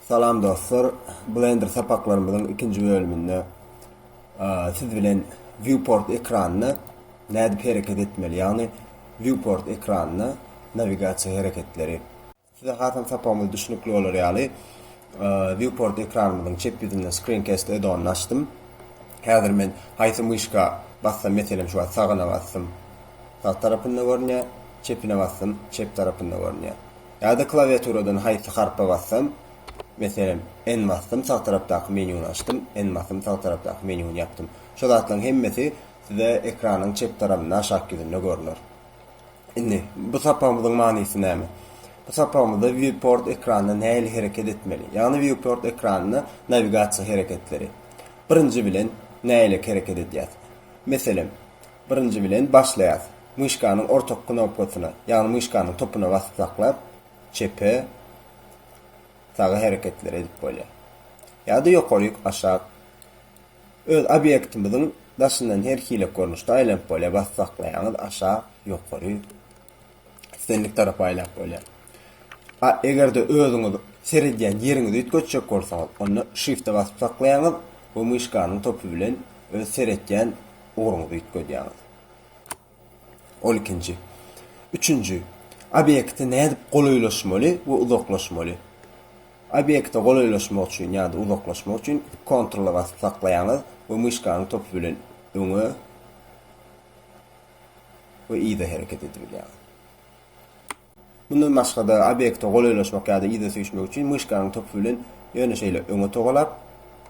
Salam dostlar, Blender sapaklarymyzyň ikinji bölüminde siz bilen Viewport ekranynda nädip hereket etmeli, ýagny Viewport ekranynda nawigasiýa hereketleri. Size hasam sapagymyz düşnükli bolar ýaly Viewport ekranymyzyň çep ýüzünde Screencast add-onyny açdym. Häzir men haýsy myşka bassam, meselem şu wagt sagyna basdym, sag tarapynda görünýär, çepine basdym, çep tarapynda görünýär. Ýa-da klawiaturadan haýsy harpa bassam, meselem, N basdym, sag tarapdaky menyuny açdym, N basdym, sag tarapdaky menyuny ýapdym. Şu zatlaryň hemmesi size ekranyň çep tarapynda aşak ýüzünde görner. Indi, bu sapagymyzyň manysy näme? Bu sapagymyzda Viewport ekranyna nähili hereket etmeli? Ýagny Viewport ekranyna nawigasiýa hereketleri. Birinji bilen, nähili hereket edýäs? Meselem. Birinji bilen başlaýas. Myşkanyň orta knopkasyna, ýagny myşkanyň topuna basyp saklap, çepe, saga hereketleri edip bolýar. Ýa-da ýokaryk, aşak. Öz obýektimiziň daşyndan her hili görnüşde aýlanyp bolýar, basyp saklaýaňyz, aşak, ýokary. islendik tarapa aýlap bolýar. A eger-de özüňiz seredýän ýeriňizi üýtgetjek bolsaňyz, onda Shift-e basyp saklaýaňyz we myşkanyň topy bilen öz seretýän ugruňyzy üýtgedýäňiz. Ol ikinji. Üçünji, obýekte nädip golaýlaşmaly we uzaklaşmaly? Obýekte golaýlaşmak üçin ýa-da uzaklaşmak üçin Ctrl-a basyp saklaýaňyz we myşkanyň topy bilen öňe, we yza hereket edibilýär. Mundan başga-da, obýekte golaýlaşmak ýa-da yza süýşmek üçin myşkanyň topy bilen ýöne şeýle öňe togalap,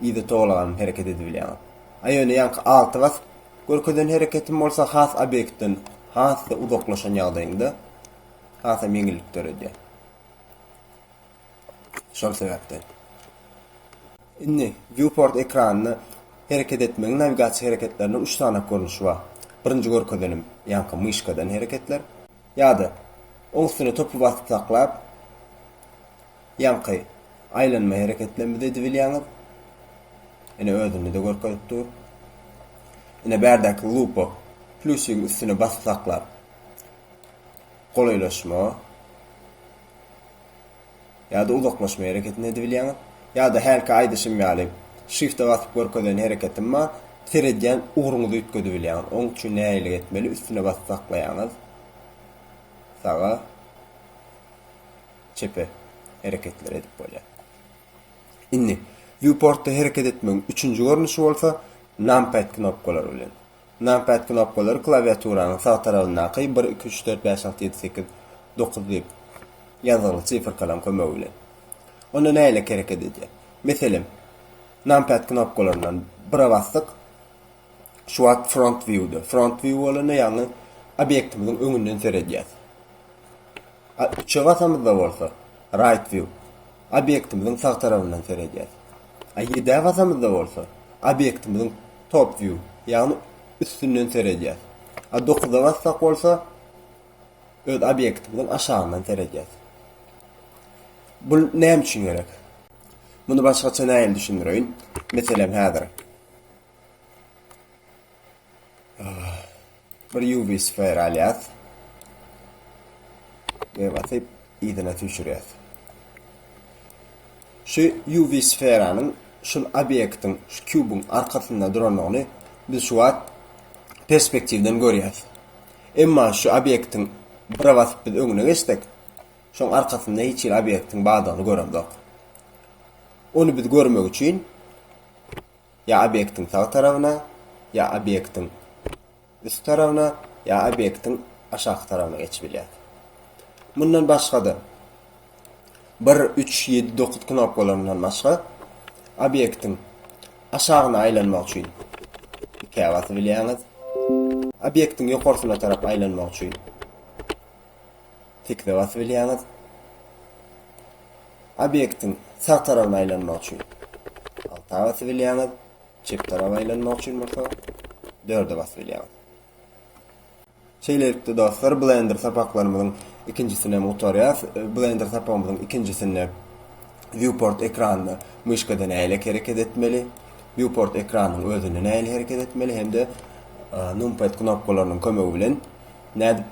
yza togalganyp hereket edibilýär. A ýöne ýaňky alty basyp görkezen hereketim bolsa has obýektden has-da uzaklaşan ýagdaýyňda hasam ýeňillik döredýär. Şol sebäpden, indi Viewport ekranynda hereket etmegiň nawigasiýa hereketleriniň üç sany görnüşi bar. Birinji görkezenim, ýaňky myşkadan hereketler. Ýa-da oň üstüne topy basyp saklap, ýaňky aýlanma hereketlerimizi edibilýäňiz. Ine, özünde-de görkezip dur. Ine, bärdäki lupa, plýusigiň üstüne basyp saklap, golaýlaşma. Ýa-da uzaklaşma hereketini edibilýäňiz. Ýa-da hälki aýdyşym ýaly, Shift-e basyp görkezen hereketim bar, seredýän ugruňyzy üýtgedibilýäňiz. Oň üçin nähili etmeli, üstüne basyp saklaýaňyz, saga, çepe hereketleri edip bolýar. Indi, Viewport-da hereket etmegiň üçünji görnüşi bolsa, Numpad knopkalary bilen. Numpad knopkalary klawiaturanyň sag tarabyndaky bir, iki, üç, dört, bäş, alty, ýedi, sekiz, dokuz diýip ýazgyly sifrkalaryň kömegi bilen onda nähilek hereket edýär? Meselem, numpad knopkalaryndan bire basdyk, şu wagt front view-de, front view bolanda ýagny obýektimiziň öňünden seredýäs. A üçe basamyzda bolsa, Right View, obýektimiziň sag tarabyndan seredýäs. A ýedä basamyzda bolsa, obýektimiziň Top View, ýagny üstünden seredýäs. A dokuza bassak bolsa, öz obýektimiziň aşagyndan seredýäs. Bu näme üçin gerek? Muny başgaça nähili düşündireýin? Meselem, häzir Bir ýuwbi sfer alýas we basyp yzyna süýşürýäs. Şu ýuwbi sferanyň şul obýektiň, şu kubyň arkasynda durandygyny biz şu wagt perspektiwden görýäs. Emma şu obýektiň bire basyp biz öňüne geçsek, şoň arkasynda hiç hili obýektiň bardygyny göremzok. Ony biz görmek üçin Ýa obýektiň sag tarabyna, ýa obýektiň üst tarabyna, ýa obýektiň aşaky tarabyna geçip bilýär. Mundan başga-da, bir, üç, ýedi, dokuz knopkalaryndan başga, obýektiň aşagyna aýlanmak üçin ikä basyp bilýäňiz. Obýektiň ýokarsyna tarap aýlanmak üçin. Tekizä basyp bilýäňiz. Obýektiň sag tarabyna aýlanmak üçin alta basyp bilýäňiz. Çep taraba aýlanmak üçin bolsa dörde basyp bilýäňiz. Şeýlelikde dostlar, Blender sapaklarymyzyň ikinjisini hem gutarýas. Blender sapagymyzyň ikinjisinde viewport ekranynda myşkada nähili hereket etmeli, viewport ekranynyň özünde nähili hereket etmeli hem-de numpad knopkalarynyň kömegi bilen nädip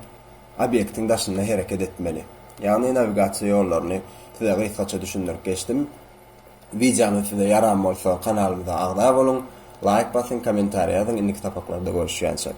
obýektiň daşynda hereket etmeli. Ýagny nawigasiýa ýollaryny size gysgaça düşündirip geçdim. Wideony size ýaran bolsa kanalymyza agza boluň, laýk basyň, kommentariý ýazyň, indiki sapaklarda görüşýänçek.